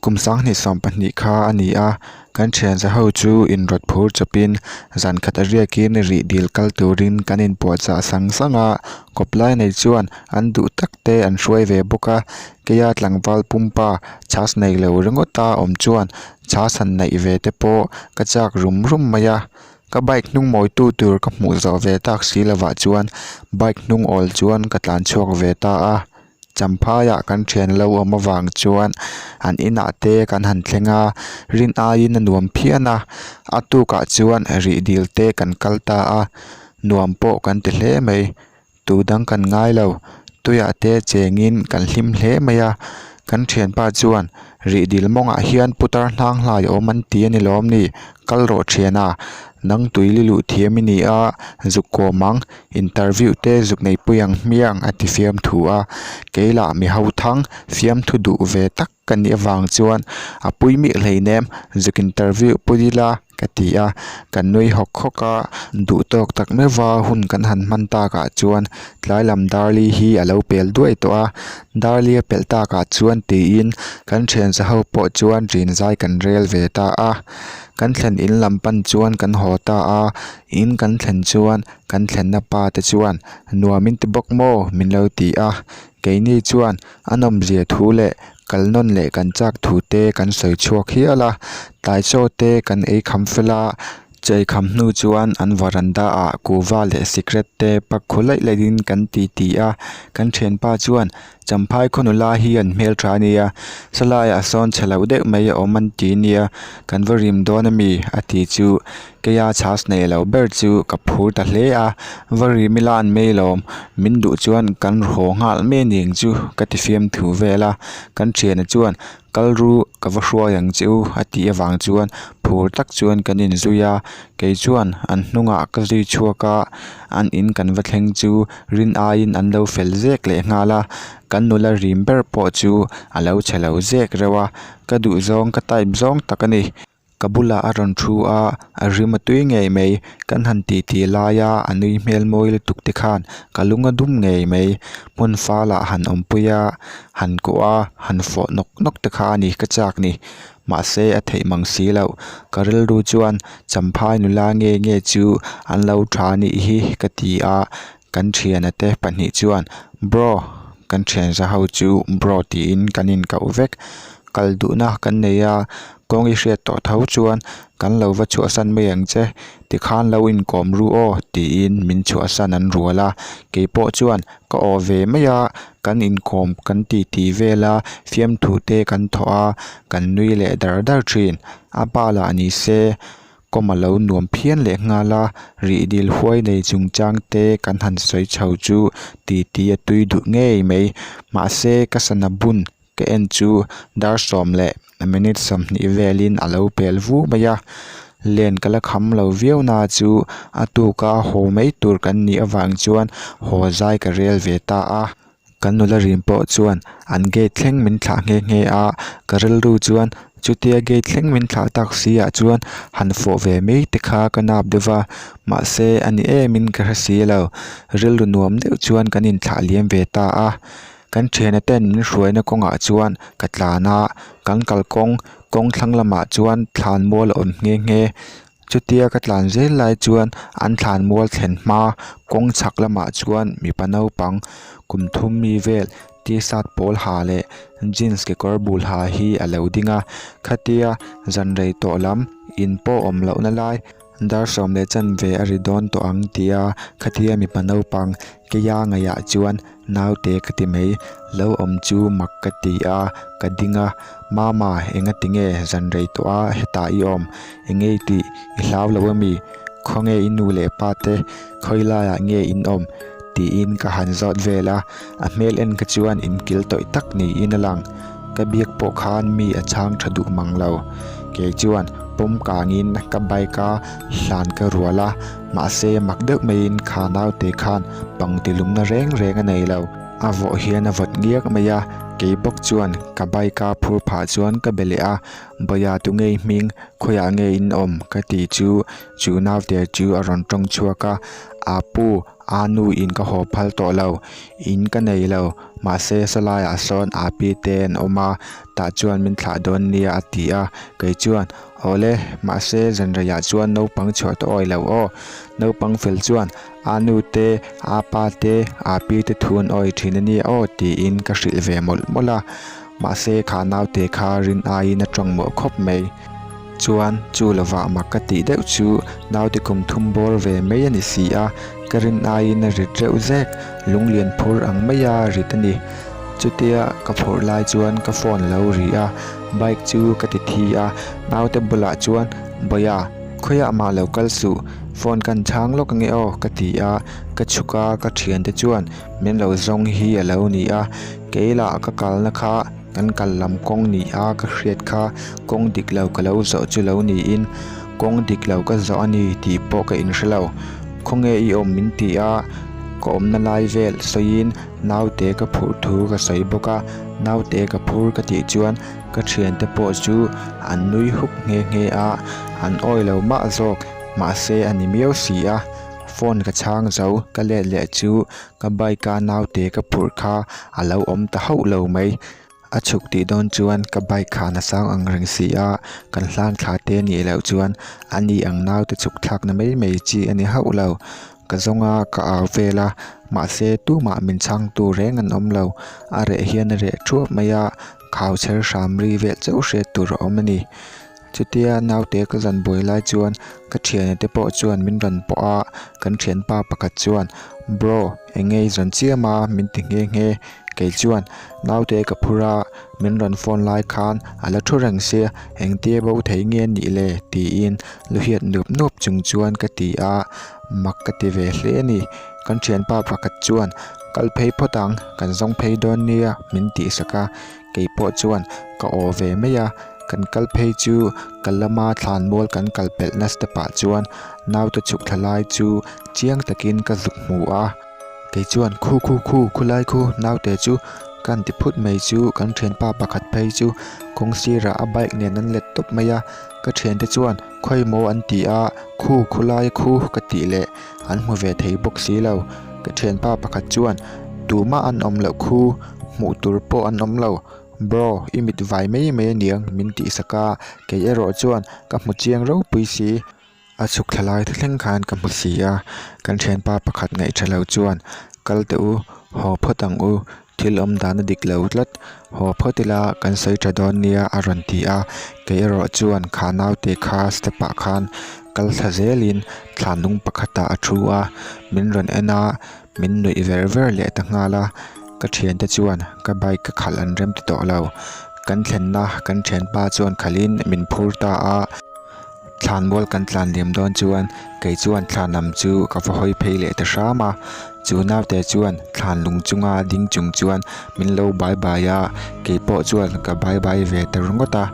Kum sanghnih sawm pahnih kha a ni a, kan thianza ho chu in rawt phur chawp in zan khat a riak in rih dil kal tur in kan in puah chah sang sang a, kawp lai nei chuan an duh tak te an hruai ve bawk a, kei a tlangval pumpa chas nei lo ringawt a awm chuan chhahsan naih ve te pawh ka chak rum rum mai a, ka bike hnung mawi tu tur ka hmuh zawh ve tak si lovah chuan bike hnung awl chuan ka tlan chhuak ve ta a, Champhai ah kan thian lo awm avang chuan an inah te kan han thleng a, rin aiin a nuam phian a, a tukah chuan rih dil te kan kal ta a, nuam pawh kan ti hle mai. Tu dang kan ngai lo, tuia te chengin kan hlim hle mai a. Kan thianpa chuan, Rih dil mawngah hian putar hlang hlai awm an ti a ni lawm ni? Kal rawh thian a, nang tui li luh thiam i ni a, zuk kawm ang, interview te zuk neipui ang hmiang a ti fiamthu a. Kei lah mi ho thang fiamthu duh ve tak. ka nih avang chuan a pui mih hleinem zuk interview pawh dil a ka ti a ka nui hawk hawk a duh tawk tak mai va hun kan han hman tak ah chuan tlai lam darli hi alo pel duai tawh a darli a pelh tak ah chuan ti in kan thiansa ho pawh chuan rin zai kan rel ve ta a kan thlen in lam pan chuan kan haw ta a in kan thlen chuan kan thlen na pa te chuan nuam in ti bawk maw min lo ti a. Keini chuan a nawmzia thu leh kalnawn leh kan chak thu te kan sawi chhuak hial a. Taichaw te kan ei kham fel a, ei kham hnu chuan an varanda ah kuhva leh sikret te pak khaw laih laih in kan ti ti a. Kan thianpa chuan Champhai khaw nula hi an hmeltha ania, salaiah sawn chhe loh deuh mai a awm an ti nia, kan va rim dawn a mi? a ti chu. Keia chas nei lo ber chu ka phur ta hle a, va ri mila an mei lawm, min duh chuan kan haw nghal mai ning chu ka ti fiam thu vel a, kan thianah chuan kal ru ka va hruai ang che u a tih avang chuan phur tak chuan kan in zui a, kei chuan an hnungah ka zui chhuak a, an in kan va thleng chu rin aiin an lo fel zek leh nghal a, kan nula rim ber pawh chu a lo che lo zek reuh a, ka duhzawng ka type zawng tak a ni. Ka bulah a rawn thu a, a hrim a tui ngei mai. Kan han titi laia a nui hmel mawi lutuk te khan ka lung a dum ngei mai. Hmun falah han awmpui a, han kawh a, han fawh nawk nawk te kha a ni ka chak ni. Mahse a theih mang si lo. Ka rilru chuan Champhai nula nge nge chu an lo tha anih hi ka ti a, Kan thiana te pahnih chuan Bro, kan thianza ho chu Bro tiin kan inkauh vek. Kal duhna kan nei a, kawng i hriat tawh tho chuan kan lo va chhuahsan mai ang che tikhan lo inkawm ru aw tiin min chhuahsan an rual a. Keipawh chuan ka aw ve mai a, kan inkawm kan titi vela fiamthute kan thawh a, kan nui leh dar dar thin. A pa lah ni se, Kawm a lo nuam phian leh nghal a, rihdil huai nei chungchang te kan han sawi chho chu titi a tui duh ngei mai. Mahse, ka sana bun ka en chu dar sawm leh minute sawmhnih velin a lo pel vu mai a. Len ka la kham lo viau na chu a tuka haw mai tur kan nih avang chuan haw zai ka rel ve ta a. Kan nula rim pawh chuan an gate thleng min thlah nghe nghe a, ka rilru chuan chutia gate thleng min thlah tak siah chuan han fawh ve mai te kha ka nap deuh va, mahse a ni emin ka hre si lo, rilru nuam deuh chuan kan inthlah liam ve ta a, kan thiana ten min hruaina kawngah chuan ka tlan a, kan kalkawng kawng thlang lamah chuan thlan mual a awm nghe nghe. Chutia ka tlan zel lai chuan an thlan mual thlen hma kawng chhak lamah chuan mipa naupang kum thum mi vel T-shirt pawl ha leh jeans kekawr bul ha hi a lo ding a. Khatia zan rei tawh lam in pawh awm lohna lai dar sawm leh chan ve a ri dawn tawh ang tia khatia mipa naupang Keia ngaiah chuan naute ka ti mai lo awm chu mak ka ti a, ka ding a, Mama enga ti nge zan rei tawh a hetah i awm, engei tih i hlau loh a mi? Khawnge i nu leh pa te khawi laiah nge in awm? tiin ka han zawt vel a, a hmel en ka chuan in kil tawih tak niin a lang. Ka biak pawh khan mi a chhang tha duh mang lo. Kei chuan pawm kangin ka bike a hlan ka rual a. Mahse, mak deuh maiin kha naute khan pangti lumna reng reng a nei lo. A vawh hian a vawt ngiak mai a, kei bawk chuan ka bike-a phur phah chuan ka be leh a, Bawia tu ngei hming, khawiah nge in awm? ka ti chu chu naute chu a rawn tawng chhuak a, A pu, aa nu in ka haw phal tawh lo, in ka nei lo, mahse Salaiah sawn Api te an awm a, tah chuan min thlah dawn nia a ti a, kei chuan Awle, mahse zanreiah chuan naupang chhuah tawh awi lo aw. Naupang fel chuan, Aa nu te, aa pa te, aa pi te thu an awi thin ania aw, tiin ka hrilh ve mawlh mawlh a. Mahse kha naute kha rin aiin a ṭawng mawh khawp mai. Chuan chu lovah mak ka tih deuh chu naute kum thum bawr ve mai a ni si a. Ka rin aiin a rit reuh zek, lung lian phur ang maia rit a ni. Chutia ka phawrh lai chuan ka phone lo ri a, bike chu ka ti thi a, naute bulah chuan, Bawia, khawiah mah lo kal suh, phone kan chhang lawk ange aw, ka ti a, ka chhuk a ka thiante chuan, Min lo zawng hi a lo ni a, kei lah ka kalna kha, Kan kal lam kawng ni a, ka hriat kha kawng dik lo ka lo zawh chu lo niin kawng dik lo ka zawh a ni tih pawh ka inhre lo. Khawnge i awm min ti a, ka awmna lai vel sawiin naute ka phurh thu ka sawi bawk a, naute ka phur ka tih chuan ka thiante pawh chu an nui hup nghe nghe a, an awi lo mah zawk mahse a ni miau si a, phone ka chhang zo ka let leh chu Ka bike a naute ka phurh kha a lo awm ta hauh lo mai. A chhuk tih dawn chuan ka bike kha a nasang ang reng si a, kan hlan thla te a nih loh chuan a ni ang naute chukthlakna mai mai chi a ni hauh lo. Ka zawng a ka au vel a, mahse tumah min chhang tur reng an awm lo. A reh hian a reh thuap mai a, khau chher hram ri vel chauh hriat tur a awm a ni. Chutia naute ka zan buai lai chuan ka thiane te pawh chuan min rawn pawh a, kan thianpa pakhat chuan Bro engei zawn chiam a min ti nghe nghe, kei chuan naute ka phur a, min rawn phone lai khan a la thu reng se engtia bo thei nge nih le tiin luhiat nup nup chung chuan ka ti a, mak ka ti ve hle a ni, kan thianpa pakhat chuan kal phei phawt ang kan zawng phei dawn nia min tih sak a, Kei pawh chuan ka aw ve mai a, kan kal phei chu ka lama thlanmual kan kal pelhna step ah chuan naute chhuk thla lai chu chiang takin ka zuk hmu a, kei chuan khu khu khu khulai khu naute chu ka anti phut mai chu kan thianpa pakhat phei chu kawng sirah a bike nen an let tawp mai a, ka thiante chuan khawi maw an ti a, khu khulai khu ka tih leh an hmu ve thei bawk silo, ka thianpa pakhat chuan tumah an awm loh khu. hmuh tur pawh an awm lo bro i mit vai mai mai a niang min tih sak a kei erawh chuan ka hmu chiang ropui si a chhuk thla lai tha thleng khan ka hmu si a kan thianpa pakhat ngaihtha lo chuan kal teh u haw phawt ang u thil awm dan a dik lo tlat haw phawt ila kan sawi tha dawn nia a rawn ti a kei erawh chuan kha nau te kha step ah khan kal thla zel in thlan nung pakhat ah a thu a min rawn en a. Min nuih ver ver leh ta nghal a, ka thiante chuan ka bike ka khalh an rem ta tawh lo. Kan thlenna kan thianpa chuan khalhin min phur ta a, thlan mual kan tlan liam dawn chuan kei chuan thlan am chu ka va hawi phei leh ta hram a. Chu naute chuan thlan lung chunga ding chung chuan min lo bai bai a, kei pawh chuan ka bai bai ve ta ringawt a.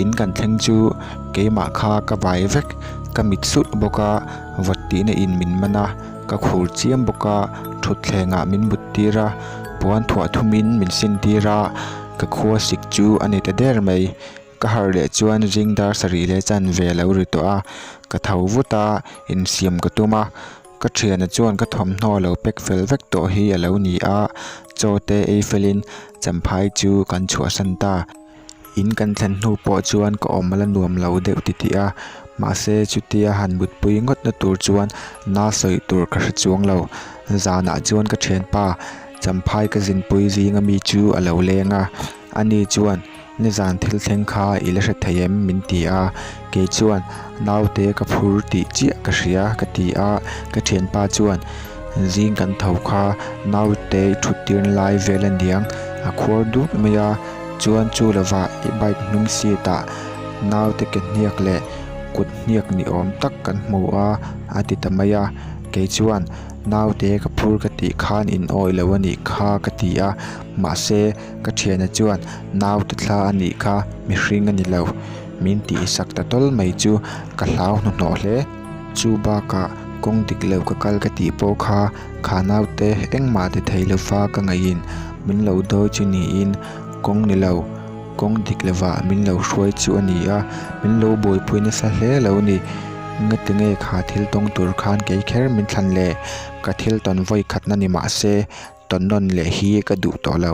In kan thleng chu keimah kha ka vai vek, ka mit sulh bawk a, vattihna in min man a. Ka khur chiam bawk a, thutthlengah min muttir a, puan thuah thumin min sintir a, ka khua sik chu a ni ta der mai. Ka harh leh chuan zing dar sarih leh chan ve lo ri tawh a, ka tho vut a, insiam ka tum a, ka thiana chuan ka thawmhnaw lo pek fel vek tawh hi a lo ni a, chaw te ei felin Champhai chu kan chhuahsan ta. In kan thlen hnu pawh chuan ka awm la nuam lo deuh titih a, mahse chutia han mutpui ngawtna tur chuan na sawi tur ka hre chuang lo. Zanah chuan ka thianpa Champhai ka zinpui zing ami chu a lo leng a, ani chuan, Nizan thil thleng kha i la hre thei em? min ti a. Kei chuan naute ka phur tih chiah ka hria ka ti a, ka thianpa chuan zing kan tho kha naute i thut tirna lai vel a niang, a khuar duk mai a, chuan chu lovah i bike hnung seat ah naute ke hniak leh kut hniak ni awm tak kan hmu a, a ti ta mai a, kei chuan naute ka phur ka tih khan in awi lo a nih kha ka ti a, mahse ka thiana chuan naute thla a nih kha mihring a ni lo. Min tih i sak ta tawl mai chu ka hlau hnuhnawh hle. Chu bakah kawng dik lo ka kal ka tih pawh kha khanau te engmah ti thei lofa ka ngaihin min lo dawi chu niin kawng ni lo, kawng dik lovah min lo hruai chu a ni a. Min lo buaipui nasa hle lo ni. Nge ti nge kha thil tawng tur khan kei kher min thlan le. Ka thil tawn vawi khatna ni mah se tawn nawn leh hi ka duh tawh lo.